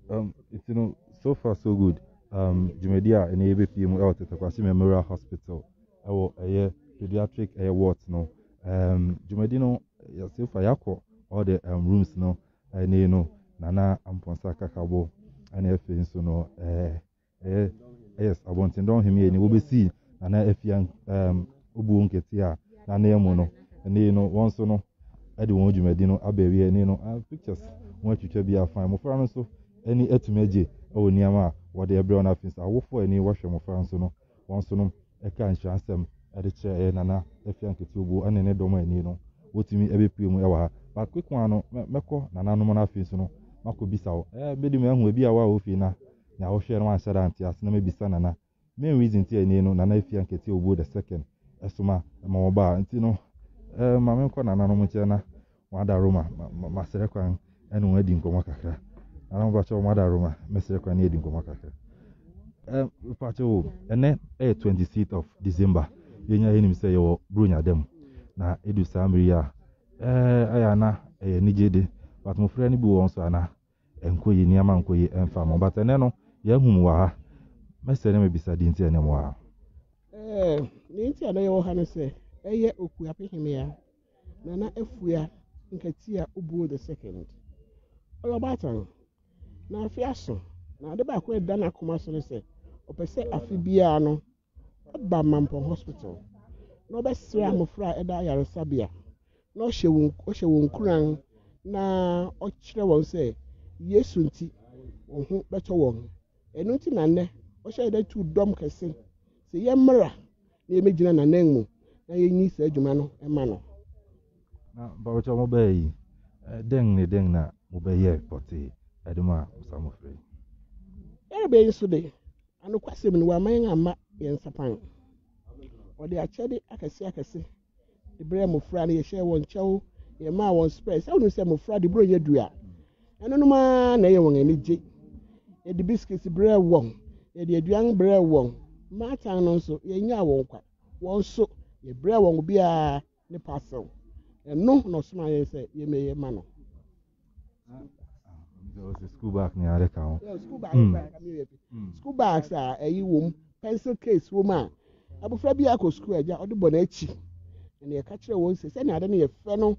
Um, nti no, so far so good. Um, dwumadi a ɛnɛ yɛbɛpie mu ɛwɔ Tetekwase Memorial Hospital ɛwɔ ɛyɛ pediatric ɛyɛ ward no. Um, dwumadi no yɛ so far yɛakɔ all the um, rooms no ɛne no nana ampɔnsa kakabo ɛne afei nso no ɛɛ eh, Eh, yes, abɔnten dɔn hemi ani wo besi nana afia um obuo nkete a na na mu no. Ɛne no wɔn so no ɛde wɔn dwumadi no aba awie ɛne no uh, pictures wɔn atwitwa bi afan. Mmofra no nso ani atumi agye ɛwɔ nneɛma a wɔde ɛbrɛ wɔn afei nso awofo ani wɔhwɛ mmofra nso no wɔn so no ɛka nhyira nsɛm ɛde kyerɛ ɛyɛ nana afia nkete obuo ɛne ne dɔm ani no wɔtumi ɛbɛpue mu ɛwɔ ha. But quick one no mɛkɔ nananom no afei nso no makɔ bisa wo ɛɛ bɛdi mu ɛho ebi a wɔ a wofie na Nea ɔhwɛɛ no anhyɛ da ante ase na mabisa Nana main reason nti a ɛnnɛ yi no Nana Afia Nketiah Obuo the second soma ma wɔba a nti no eh ma menkɔ nananom nkyɛn na wɔadaro ma masrɛ kwan ne wɔn adi nkɔmmɔ kakra. Nana mpakyɛw moadaro ma mɛsrɛ kwan ne yɛadi nkɔmmɔ kakra. Eh mpakyɛw o, ɛnnɛ ɛyɛ 26th of December yɛn nyinaa yɛnim sɛ yɛwɔ Buronya da mu na ɛdu saa mmere yi a eh ayɛ a na ɛyɛ anigye de but mofra no bi wɔ wɔn so a na Ɛnkɔ yie, nneɛma nkɔ yie ɛmfa mo. But ɛnɛ no, yɛahu mo wɔ ha. Mɛsrɛ na mabisa deɛ nti a ɛnɛ mo wɔ ha. Ɛɛ, deɛ nti a na yɛwɔ ha ne sɛ, ɛyɛ Okuape Hemmea, Nana Afua Nkatia Obuo the second. Ɔyɛ ɔbaatan, na afe aso, na ade baako a ɛda n'akoma so ne sɛ, ɔpɛ sɛ afe biara no, Ɔba Mampong Hospital na ɔbɛsrɛ mmofra a ɛda ayaresabea na ɔhyɛ wɔn ɔhyɛ wɔn nkuran na ɔkyerɛ wɔn sɛ Yesu nti wɔn ho bɛtɔ wɔn. Ɛno nti na nnɛ ɔhyɛ yɛn dɛ tu dɔm kɛse sɛ yɛmmra na yɛmmɛgyina n'anan mu na yɛnyi saa adwuma no ma no. Na mpabokyɛ wɔn bɛyɛ yi, dɛn ne dɛn na wɔbɛyɛ pɔtee de ma saa mmofra yi? Yɛrebɛyɛ nso de, Anokwasɛm ni, wamma yɛn amma yɛn nsapan. Ɔde akyɛde akɛse akɛse de brɛɛ mmofra no. Yɛhyɛɛ wɔn kyɛw, yɛmaa wɔn spɛɛs. Sɛ wonim sɛ mmofra de borɔnyɛ du a, ɛnonom ara na ɛyɛ wɔn ani gye. Yɛde bisikiti brɛɛ wɔn, yɛde aduan brɛɛ wɔn. Mmaatan no nso, yɛnnyaa wɔn kwa. Wɔn nso, yɛbrɛɛ wɔn obiara ne parcel. Ɛno na ɔsoma yɛn sɛ yɛmɛyɛ ma no. School bag ni ade ka ho. School bag hmm. hmm. school bags a ɛyi wɔm pencil case wɔm a abofra bi akɔ school agya ɔde bɔ n'akyi na yɛka kyerɛ wɔn sɛ sɛnea ade no yɛ fɛ no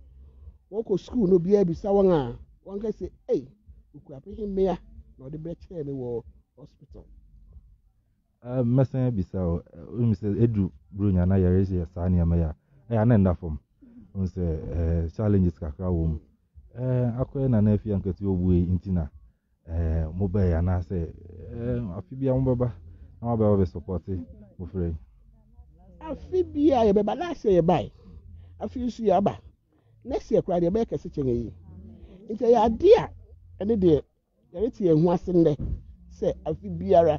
wɔkɔ school no obiara bisa wɔn a wɔn ka sɛ ei okura pehe mmea na ɔde bɛkyerɛ me wɔ hospital. Eh, mɛsan abisa o, wonim sɛ ɛduru buronya na yɛreyɛ saa nneɛma yi a, ɛyɛ a na ɛnda fam. Wohu sɛ eh, challenges kakra wɔ mu. Eh, akɔyɛ na na afi ankati ɔwuo yi nti na eh, mobɛɛ anaasɛ eh, afe bia mobɛba na wabɛba bɛsupɔte mofrɛ yi. Afe bia yɛbɛba, last year yɛbae, afe nso yɛaba. Next year koraa deɛ ɛbɛyɛ kɛse kyɛn ayi. Nti ɛyɛ adeɛ a ɛne deɛ Yɛretse hɛn ho ase ndɛ sɛ afe biara,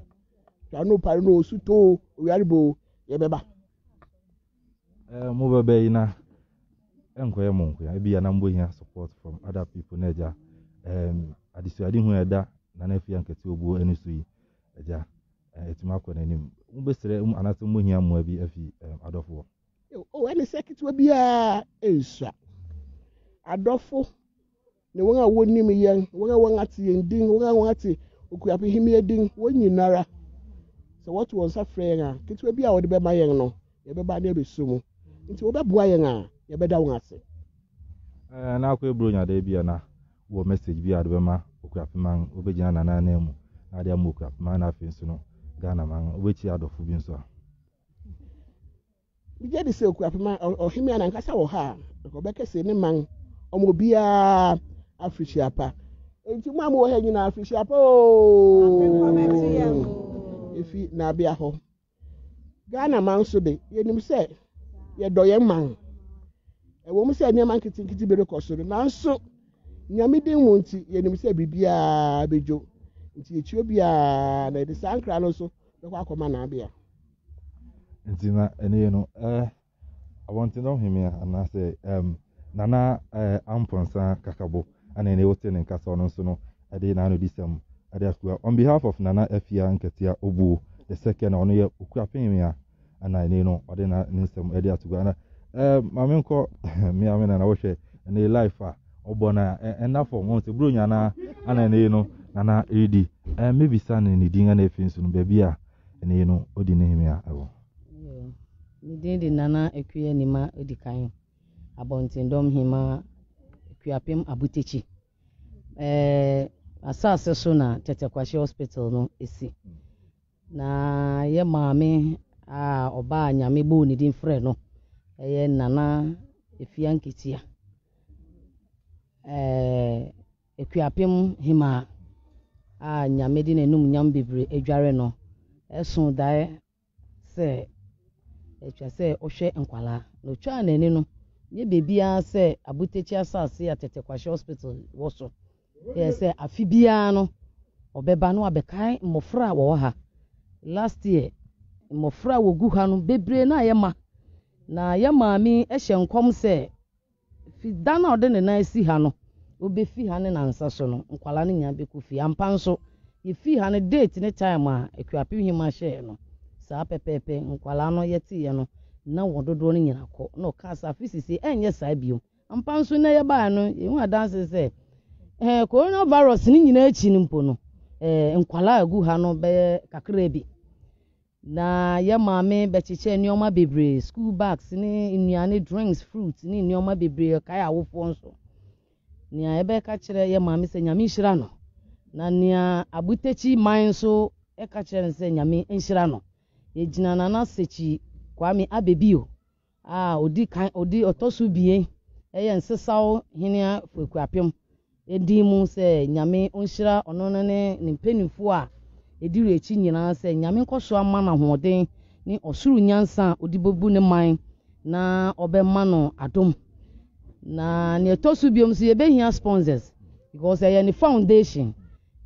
dza no par no osutɔ o, owiarba o, yɛbɛba. Eh, mo bɛbɛ yi na ɛnkɔyɛ mo nkoa ebi yɛ na mo hia support from other people na ɛgya ɛɛm adesuade hu ɛda na na efi ankɛte obuo ɛne so yi ɛgya ɛtumi akɔ n'anim mo bɛsrɛ mu anaasɛ mo hia mmoa bi afi ɛɛm adɔfoɔ. o ɛne sɛ ketewa biara nsua adɔfo. ne wɔn a wɔnim yɛn, wɔn a wɔate yɛn din, wɔn a wɔate Okuapem Hemmea din, wɔn nyinara, sɛ wɔto wɔn nsa frɛ yɛn a, ketewa bi a wɔde bɛma yɛn no, yɛbɛba ne abɛso mu. Nti wɔbɛboa yɛn a, yɛbɛda wɔn ase. Eh, na akɔ eburo nyada bi a na wɔ message bi a wɔde bɛma Okuapem man, wɔbɛgyina Nana anan mu na ade ama Okuapem man na afei nso no Ghana man, wɔbɛkyia adɔfo bi nso a. Migye di sɛ okura pema ɔhemmea n'ankasa wɔ ha a, anka ɔbɛka se ne man ɔma obiara afirihyia pa. Enti mo a mowɔ ha nyinaa, afirihyia pa oo! Efi Nabea hɔ. Ghana man nso de, yenim sɛ yɛdɔ yɛn man. Ɛwom sɛ nneɛma nketenkete bi rekɔ so de, nanso Nyame din mu nti, yenim sɛ biribiara bedwo. Nti yekyi obiara na yɛde saa nkra no nso bɛkɔ akɔma Nabea. Nti na ɛne yɛ no eh, abɔnten dɔ hwɛ me a, anaasɛ um, nana eh, ampɔnsa kakabo, ana ɛne wote ne nkasa ɔno nso no ɛde n'anodisɛm ɛde atua. On behalf of Nana Afia Nketia Obuo the second, ɔno yɛ okura pɛn me a, ana ɛne no ɔde na ne nsɛm ɛde ato gua. Ana eh, maame nkɔ me ame nana wohwɛ ɛne life a ɔbɔ na ɛnna fam wɔn sɛ buro nyana ana ɛne no nana ɛredi. Eh, mebisa ne ne din ɛna ɛfiri nso no baabi a Ɛnɛ yi no, odi ne hene a ɛwɔ. Ne din de Nana Akua Nima odi kan Abɔntendɔm Hema Akuapem Abutakyi. Ɛɛ asase so na Tɛtɛ Kwahye Hospital no si. Na yɛ maame a ɔbaa Nyame bɔɔ ne din frɛ no ɛyɛ Nana Afia Nketia. Ɛɛ. Akuapem Hemmaa a Nyame de n'anumnyam bebree adware no soo dae sɛ ɛtwa sɛ ɔhwɛ nkwadaa, na otwaa n'ani no nyɛ baabi ara sɛ Abutakyi asase a Tete Kwashe Hospital wɔ so, yɛ sɛ afe biara no ɔbɛba na wabɛkae mmofra a wɔwɔ ha. Last year, mmofra a wɔgu ha no bebree na yɛma, na yɛn maame hyɛ nkɔm sɛ Fi da no a ɔde ne nan asi ha no, obefi ha ne nansa so no, nkwadaa no nyinaa bɛkɔ fie. Ampa nso, yɛfii ha no, date ne time a Akuapem Hima hyɛeɛ no, saa pɛpɛɛpɛ nkwadaa no yɛteeɛ no, na wɔn dodoɔ no nyinaa kɔ. Na ɔkaa sɛ, afe seesei ɛrenyɛ saa bio. Ampa nso, nnɛ yɛbaeɛ no, yɛhu adanse sɛ, eh, Corona virus no nyinaa akyi no mpo no, eh, nkwadaa a ɛgu ha no bɛyɛ kakraa bi. Na yɛn maame bɛkyekyɛɛ nneɛma bebree, school bags ne nnuane, drinks, fruits ne nneɛma bebree, ɔkae awofoɔ nso. Nea yɛbɛka kyerɛ yɛn maame sɛ Nyame nhyira no. Na nea Abutakyi man nso ka kyerɛ no sɛ Nyame nhyira no. Yɛgyina Nana Sekyi Kwame Abebio a ɔdi kan ɔdi ɔtɔ so abien yɛ Nsesaw Hene Afeku Apem din mu sɛ Nyame ɔnhyira ɔno ne ne mpanimfoɔ a ɛdi w'akyi nyinaa sɛ Nyame nkɔ so ama no ahoɔden ne ɔsoro nyansa a ɔde bɛbu ne man na ɔbɛma no adom. Na nea ɛtɔ so biom nso yɛbɛhia sponsors because ɛyɛ ne foundation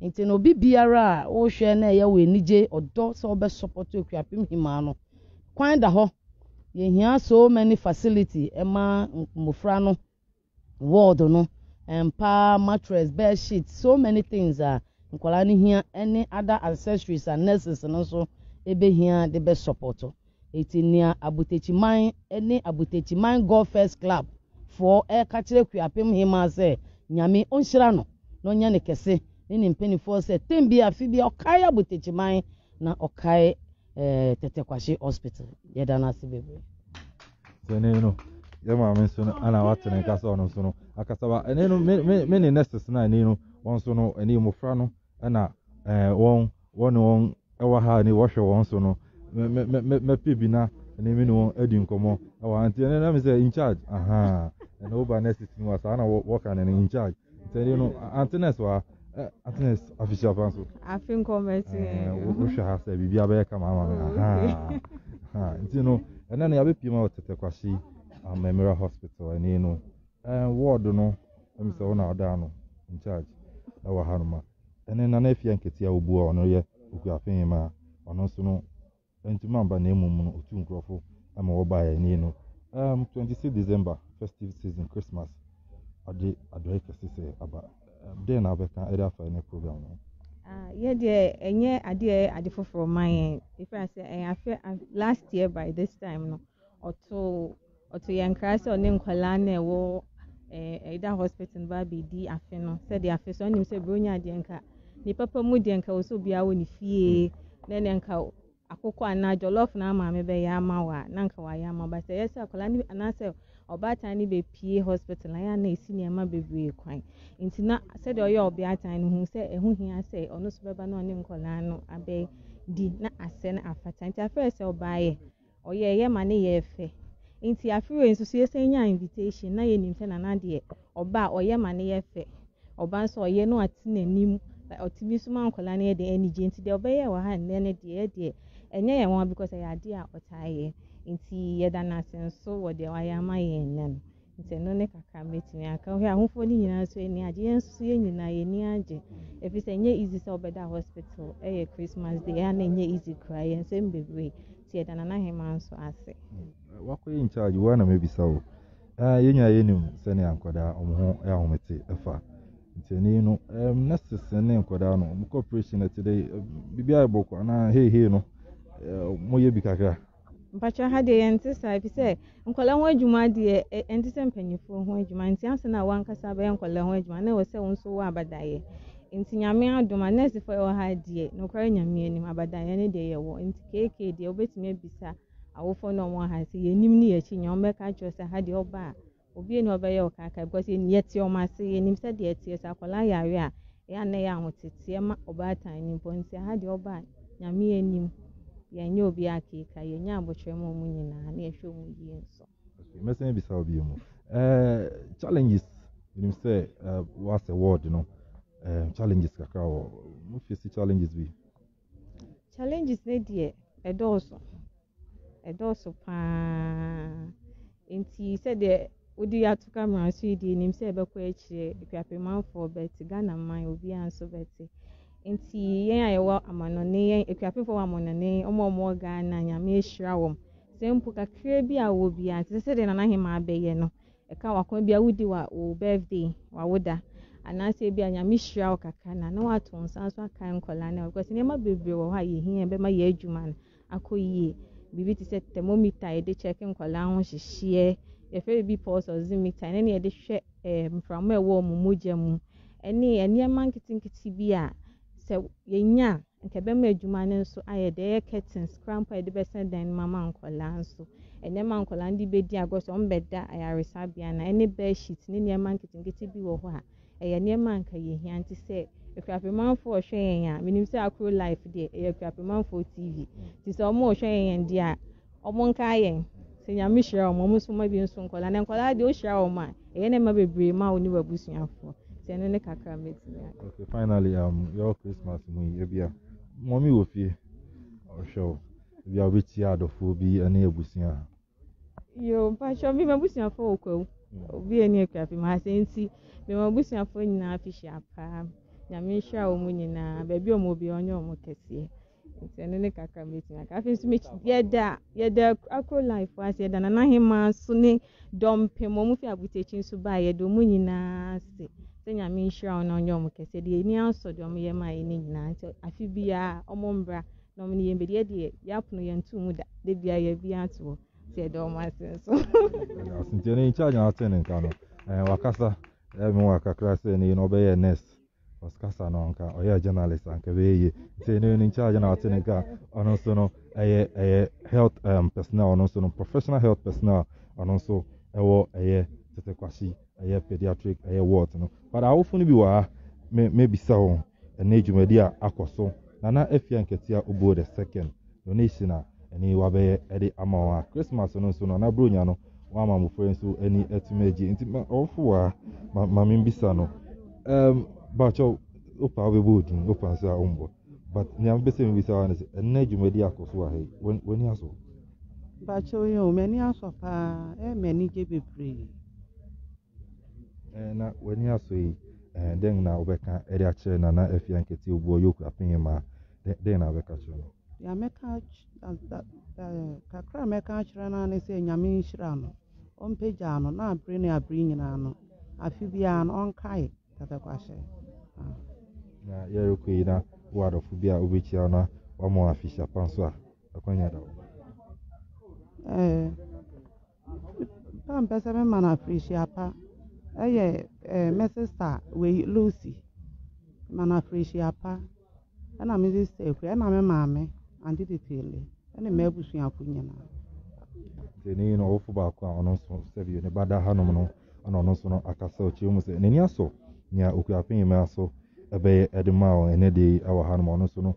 nti no obi biara a wohwɛ na ɛyɛ wo anigye ɔdɔ sɛ wobɛsupɔto Akuapem Hemaa no Kwan da hɔ, yɛhia so many facility ɛma mmofra no, ward no, mpa, mattress, bed sheet, so many things a nkwadaa no hia ɛne other accessories a nurses no nso ɛbɛhia de bɛ support. Eti nea Abotakyiman ɛne Abotakyiman God First Club foɔ ɛreka kyerɛ Kuapem Hemaa sɛ Nyame ɔnhyira no na ɔnyɛ no kɛse ne ne mpanifoɔ sɛ tem bia afe bia ɔkae Abotakyiman na ɔkae ɛɛ tete kwahye hospital yɛda no ase bebree. sɛnɛ no yɛ maame nso no ana wate ne nka sɛ ɔno nso no akasa ba ɛne no me me me ne nurses no ɛne no wɔn nso no ɛne mmofra no ɛna ɛɛ wɔn wɔne wɔn ɛwɔ ha ne wɔhwɛ wɔn nso no mɛ mɛ mɛ mɛpɛ bi na ɛne me ne wɔn adi nkɔmɔ ɛwɔ ha nti ɛne na me sɛ in charge ahaa ɛna woba nurses no wa saa na wɔka ne no in charge sɛnɛ no ante nurse wa Eh, Atenes afisua fa nso. Afi nkɔmɔ ɛsi. Eh, wohwɛ ha sɛ biribi abɛyɛ kama ama mi. Oh, ha nti no ɛnna no yabɛpie ma wɔ tete kwasi amammerɛ um, hospital ɛni no ɛɛ eh, ward no ɛmi sɛ wɔn a ɔda ano in charge ɛwɔ ha no ma ɛne nana efia nketewa obu a ɔno yɛ okuafin ma ɔno nso no Ɛntumi amba na mmom no otuu nkorɔfo ma wɔbae ani no erm twenty six December festive season Christmas agye adɔe kɛse sɛ aba erm dɛn na wobɛka de afa ɛnɛ program no ho? Ah, yɛ deɛ ɛnyɛ adeɛ ɛyɛ ade foforɔ ma yɛn ɛfiri sɛ ɛyɛ afɛ last year by this time no ɔtoo Ɔto yɛn nkra sɛ ɔne nkwadaa no a ɛwɔ Ayida Hospital no ba abɛdi afe no sɛdeɛ afe so anim sɛ Buronya adeɛ nka ne papa mu deɛ nka wɔ sɛ obiara wɔ ne fie na ɛnɛ nka akokɔ anaa jollof na maame bɛyɛ ama wɔ a na nka wayɛ ama ba sɛ ɛyɛ sɛ akwadaa no anaasɛ ɔbaatan no bɛpie hospital ayɛ a na ɛsi nneɛma bebree kwan nti na sɛdeɛ ɔyɛ ɔbeatan no hu sɛ ɛho hia sɛ ɔno so bɛba na ɔne nkwadaa no abɛdi na asɛ no afata nti afei sɛ ɔbaeɛ Ɔyɛeɛ ma ne yɛɛ fɛ. Nti afe wei nso so yɛsan nyaa invitation na yɛnim sɛ Nana deɛ ɔba a ɔyɛ ma ne yɛ fɛ. Ɔba nso a ɔyɛ no ate n'anim. Ɔtumi nso ma nkwadaa no yɛ de anigye. Nti deɛ ɔbɛyɛɛ wɔ ha nnɛ no deɛ yɛ deɛ ɛnyɛ yɛn nwanwa because ɛyɛ adeɛ a ɔtaa yɛ. Nti yɛda no ase nso wɔ deɛ wayɛ ama yɛn nnɛ no. Nti ɛno ne kakra mɛtumi aka. Wohwɛ ahofoɔ no nyinaa nso ani agye. Yɛn nso yɛn nyinaa yɛn ani agye. Ɛfiri sɛ ɛnyɛ easy sɛ wobɛda hospital ɛyɛ Christmas day. Ɛyɛ na ɛnyɛ easy koraa. Yɛn nsɛm bebree. Nti yɛda Nana Hema nso ase. Wakɔyɛ in charge wo a na mɛbisa wo. Ah, yɛn nyinaa yɛnim sɛnea nkwadaa wɔn ho ahomete ɛfa. Nti ɛne no, um, nurses ne nkwadaa no, wɔn cooperation ɛte dɛ, biribi ayɛ bɔkɔ anaa hei hei no, uh, wɔyɛ bi kakra. Mpakyɛ ha deɛ yɛn te saa efi sɛ nkɔla ho adwuma deɛ ɛn te sɛ mpanimfoɔ ho adwuma nti ansa na wankasa bɛyɛ nkɔla ho adwuma na ɛwɔ sɛ wɔn nso wɔ abadayɛ nti nyame adom a nɛɛsefo ɛwɔ ha deɛ nokware nyame anim abadayɛ ne deɛ yɛwɔ nti keke deɛ wobɛtumi abisa awofoɔ na wɔn ha sɛ yɛnim ne yɛakyi nyɛ wɔn bɛka kyerɛ sɛ ha deɛ ɔba a Obi nni hɔ ɔbɛyɛ wo kaakae because yɛn yɛte wɔn ase yɛnim sɛ deɛ ɛteɛ sɛ akwadaa yare a ɛyɛ a na ɛyɛ ahoteteɛ ma ɔbaatan no mpo nti aha deɛ ɔba a nyame anim yɛnyɛ obi akeeka yɛnya abokyerɛ ma wɔn nyinaa na yɛhwɛ wɔn yie nso. Okay, mɛsɛn abisa wo bio mu. Eh, challenges menim sɛ uh, eh, woasɛ ward no eh, challenges kakra wɔ mofisi challenges bi Challenges no deɛ ɛdɔɔso, ɛdɔɔso paa. Nti sɛdeɛ wode ato camera so yi deɛ nim sɛ ɛbɛkɔ akyire akuapemmanfoɔ bɛte Ghana man obiara nso bɛte. Nti yɛn a yɛwɔ amanɔne yɛn akuapemfoɔ wɔ amanɔne wɔn a wɔwɔ Ghana nyame ahyira wɔn. Sɛ mpo kakra bi a wɔwɔ biara nti sɛ sɛdeɛ Nana Hemaa bɛyɛ no Ɛka wakoma bia wodi wa wo birthday wawoda anaasɛ ebi a nyame hyira wo kakra na na wato nsa nso akae nkɔla no because nneɛma bebree wɔ hɔ a yɛhia bɛma yɛ adwuma no akɔ yie biribi te sɛ thermometer yɛde kyɛke nkɔla ho hyehyeɛ yɛfrɛ biribi pulse oximeter ɛne ne yɛde hwɛ eh, mframa ɛwɔ wɔn mogya mu ɛne nneɛma nketenkete bi a Sɛ yɛnya a, anka ɛbɛma adwuma no nso ayɛ dɛ. Ɛyɛ curtains koraa mpo a yɛde bɛsɛn dan no mu ama nkwadaa nso. Nneɛma a nkwadaa no de bɛdi agorɔ, sɛ wɔbɛda ayaresabea no a, ɛne bedsheet ne nneɛma nketenkete bi wɔ hɔ a, ɛyɛ nneɛma a anka yɛhia. Nti sɛ akuapemamfoɔ rehwɛ yɛn a, menim sɛ Akuro Life deɛ, ɛyɛ akuapemamfoɔ TV. Nti sɛ wɔrehwɛ yɛn deɛ a, Ɔmo nkaa yɛn sɛ Nyame hyira ɔmo, ɔmo nso mma bi nso nkɔdaa, na nkɔdaa deɛ ohyira wɔn a, ɛyɛ ne mma bebree ma wo ne w'abusuafoɔ, nti ɛno ne kakra mɛtumi aka. Okay, finally, um, yɛwɔ Christmas mu yi, ebi a, mɔmi wɔ fie, ɔhwɛ wo, ebi a wobɛtia adɔfoɔ bi ne abusua. Yo, mpakyɛ, me m'abusuafoɔ wɔ kwawu, hmm. obi ani akura fi ma asɛ nti, me m'abusuafoɔ nyinaa fi hyia paa, Nyame nhyira wɔn nyinaa, baabi ɔmo bi ɔnyɛ ɔmo kɛseɛ. Nti ɛno ne kakra mɛtumi aka. Afei nso mɛkyi yɛda yɛda akro life ase yɛda nana hema nso ne dɔm pem wɔn fi abutakyi nso baa yɛda wɔn nyinaa ase sɛ nyame nhyira wɔn na ɔnyɛ wɔn kɛse deɛ ani asɔ deɛ wɔn yɛ maa yɛ ne nyinaa nti afi biara wɔn mbra na wɔn ne yɛn bɛdi yɛde yɛ yɛapono yɛn ntu mu da de biara yɛ bi ato hɔ sɛ yɛda wɔn ase nso. nti ɛno nkyɛn nyɛ asɛn nka no wakasa ɛmu wakakra sɛ ne yi na ɔbɛyɛ nurse. Cause kasa no nka ɔyɛ journalist anka bɛyɛ yie nti ne ne charge na ɔte ne nka ɔno nso no ɛyɛ ɛyɛ health um, personnel ɔno nso no professional health personnel ɔno nso ɛwɔ ɛyɛ tete kwasi ɛyɛ pediatric ɛyɛ ward no but awofo no bi wɔ ha me mebisa wɔn ɛnna dwumadi a akɔ so nana afia nketea obuo the second donation a ɛne wabɛyɛ de ama wɔn a Christmas no nso no na bronya no wama mmofra nso ani atumi agye nti ma ɔwofo a ma ma mbisa no ɛm bakyɛw opa wobɛbɔ odin opa nso a ɔmbɔ but nea mbɛsɛ mbisa wa no sɛ ɛnna dwumadi akɔ so wɔ ha yi w'ani aso bakyɛw yɛ o m'ani aso paa ɛyɛ m'ani gye bebree ɛɛ na w'ani aso yi ɛɛ dɛn na wobɛka ɛde akyerɛ nana afia nkete obuo yɛ okura pɛn maa dɛn na wobɛka akyerɛ no? Deɛ mɛka kakra a mɛka akyerɛ no ne sɛ Nyame nhyira no, ɔmpagya no na abere ne abere nyinaa no, afe biara no ɔnkae Tɛtɛkwahyɛ. Na yɛrekɔ yi na wo adɔfo bi a wobɛkyia na wɔama afehyia pa nso a, akwanya da hɔ. Nna mepɛ sɛ mema no afirihyia pa yɛ me sista wei Lucy. Mema no afirihyia pa na me sista Akua na me maame Ante Titele ne m'abusuafo nyinaa. Sɛ ne yɛ no ɔwofo baako a ɔno nso sɛbi ne ba da hanom no na ɔno nso no akasa ɔkyerɛ mu sɛ n'ani asɔ nea Okuapɛn mmea so ɛbɛyɛ de maa wɔn ɛnɛ da yi wɔ hanom ɔno nso no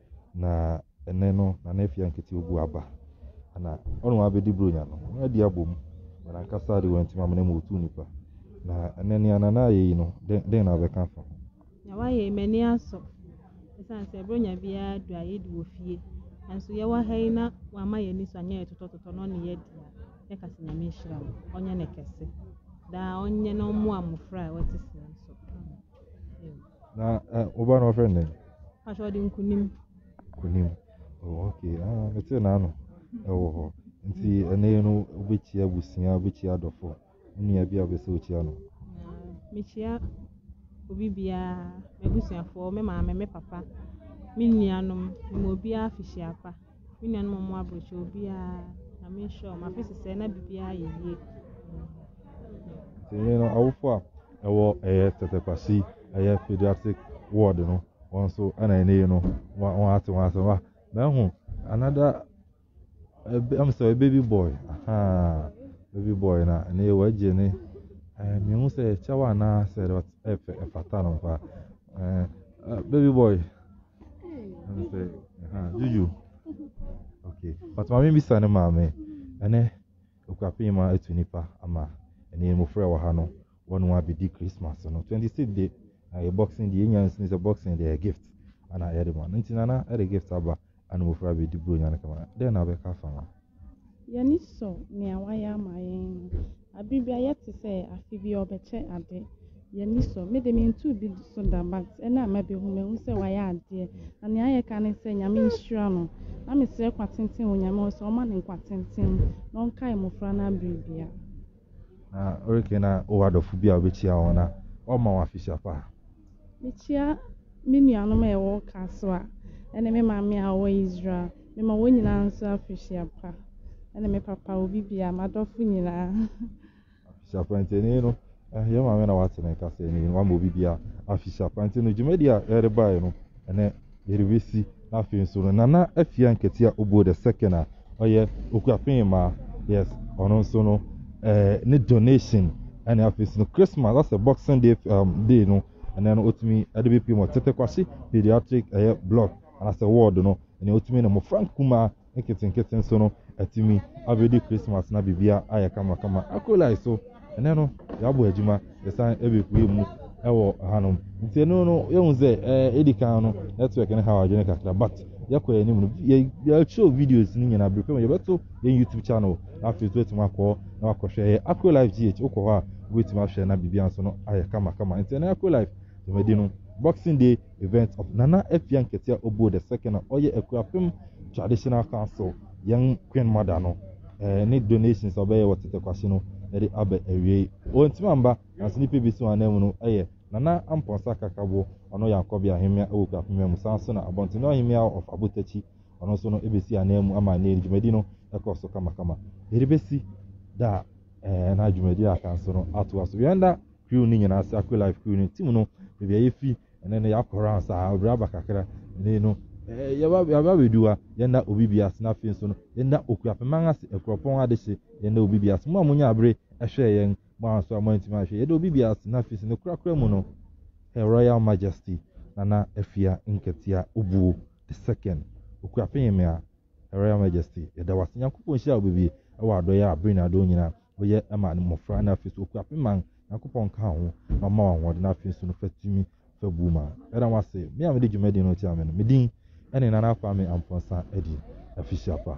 Na ɛnnɛ no, Nana Afia Nkete obu aba, na ɔne wɔn abɛdi Buronya no, wɔn adi abom, na n'ankasa de wantim amena mu ɔtuu nnipa. Na ɛnnɛ nea Nana ayɛ yi no, dɛn na wobɛka afa ho? Nea wayɛ yi, m'ani asɔ. Ɛsiane sɛ Buronya biara du a yɛdi wɔ fie, nanso yɛwɔ ha yi na wama yɛn ani so anyɛ yɛ totɔtotɔ na ɔne yɛadi a, yɛka sɛ Nyame nhyira no, ɔnyɛ no kɛse. Daa ɔnyɛ na ɔmmoa mmofra a wɔte sɛɛ nso. Na eh, wo ba no ɔfrɛ no dɛn? Pakyɛ ɔde nkunim. Nkunim. Oh, okay. Ah, mete n'ano. Ɛwɔ hɔ. Nti ɛnɛ no wobɛkyia abusua, wobɛkyia adɔfo. Nua bi a wobɛsɛ wokyia no. Mekyia obi biara, m'abusuafoɔ, me maame, me papa, me nuanom, ma obiara afihyiapa. Me nuanom ɔmo aburokyɛ obiara nyame nhyira ɔmo afe sesɛ na biribiara yɛ yie. Nti no awofo a ɛwɔ ɛyɛ tɛtɛkwasi ɛyɛ pediatric ward no wɔn nso ɛna ɛne yi no wɔn ate wɔn asɛm a mɛho another ɛbɛ ɛm sɛ baby boy ahaa baby boy na ɛne yɛ wɔagye ne ɛɛ mihu sɛ ɛkyɛw anaa sɛ ɛfɛ ɛfata no paa ɛɛ baby boy. Juju. Okay. But maame bisa ne maame. Ɛnɛ okurape ma etu nipa ama ɛne mmofra wɔ ha no wɔn mu abedi Christmas no. Twenty six de na yɛ boxing de enya nsini sɛ boxing de yɛ gift ana yɛde ma no. Nti nana ɛde gift aba ana mmofra abedi buronya no kama. Dɛn na bɛka fa ma? Yɛn ani sɔ nea wayɛ ama yɛn no. Bere biara yɛte sɛ afe bi ɔbɛkyɛ ade. Yɛn ani sɔ. Me de mentoo bi so da but ɛna a mabehu mahu sɛ wayɛ adeɛ. Na nea ayɛ ka ne sɛ Nyame nhyira no. Na mesrɛ kwa tenten wɔ Nyame hɔ sɛ ɔmma no nkwa tenten na ɔnkae mmofra no abere biara. Na oreke na wowɔ adɔfo bi a wobɛkyia wɔn na wɔma wɔn afehyia pa? Mekyia me nuanom a ɛwɔ Kasoa ne me maame a ɔwɔ Israel. Mema wɔn nyinaa nso afehyia pa ne me papa obi bia m'adɔfo nyinaa. Afehyia pa nti ɛni no eh, yɛ maame na wate ne kasa ɛni no wama obi bia afehyia pa nti no dwumadi a ɛde baeɛ no ɛnɛ Yerewesi, na afei nso no Nana Afia Nketia Obuo the second a ɔyɛ Okuapem mmaa, yes, ɔno nso no ɛɛ eh, ne donation ɛne afei nso no Christmas asɛ Boxing Day um, day no ɛnɛ no otumi ɛde bepie mu Tete Kwasi pediatric ɛyɛ block anasɛ ward no ɛnɛ otumi no mmɔfra nkumaa nketenkete nso no atumi abɛdi Christmas na biribia ayɛ kamakama. Akolae so, ɛnɛ no yɛabɔ adwuma, yɛsan ɛbɛpue mu ɛwɔ hanom. Nti ɛno no yɛhu sɛ ɛɛ edi kan no network no ha adwene kakra but yɛkɔ yɛn anim no yɛkyerɛw videos no nyinaa biribi mu yɛbɛto yɛn YouTube channel na afei nso atumi akɔ na wakɔhwɛ ɛyɛ Akro Life GH wokɔ hɔ a wobɛtumi ahwɛ na biribia nso no ayɛ kamakama nti ɛnɛ Akro Life dwumadi no Boxing Day event of Nana Afia Nketia Obuo the second a ɔyɛ Akuapem Traditional Council yɛn Queen Mother no eh, ne donations a ɔbɛyɛ wɔ Tetekwahye no ɛde abɛ awiei. Wɔntumi amba nanso nnipa bi si wɔn anan mu no ɛyɛ Nana Ampɔnsa Kakabo ɔno yɛ Ankɔbea Ahemmea ɛwɔ Akuapem mu saa nso na Abɔntene Ɔhemmea of Abotakyi ɔno nso no ebesi anan mu ama ne dwumadi no ɛkɔ so kamakama. Yɛde besi da a eh, na dwumadi a aka nso no atoa so. Yɛn da crew no nyinaa ase akɔ life crew no team no baabi a yɛfi ɛnɛ no yɛakɔ round saa ɔbrɛ aba kakra ɛnɛ no eh, yɛba yɛba bɛdu ha yɛnna obi bi ase na afei nso no yɛnna okuapeman ase akuropɔn adehye yɛnna obi bi ase mo a monya abere ɛhwɛɛ yɛn mo a nso a moantumi ahwɛ yɛde obi bi ase na afei nso no korakora mu no her royal majesty nana afia nkatia obuo the second okuapeyemea her royal majesty yɛda wase nyankopɔn nhyira wo bebie ɛwɔ adɔyɛ a bere na adɔɔ nyinaa woyɛ ma mmɔfra na afei nso okura pe man Nyankopɔn nka ho na ɔma ahoɔden na afei nso no fa tumi fa bu ma ɛda mo ase me a mede dwumadi no tia me no medin ɛne Nana Kwame Amponsah Adi afisiapa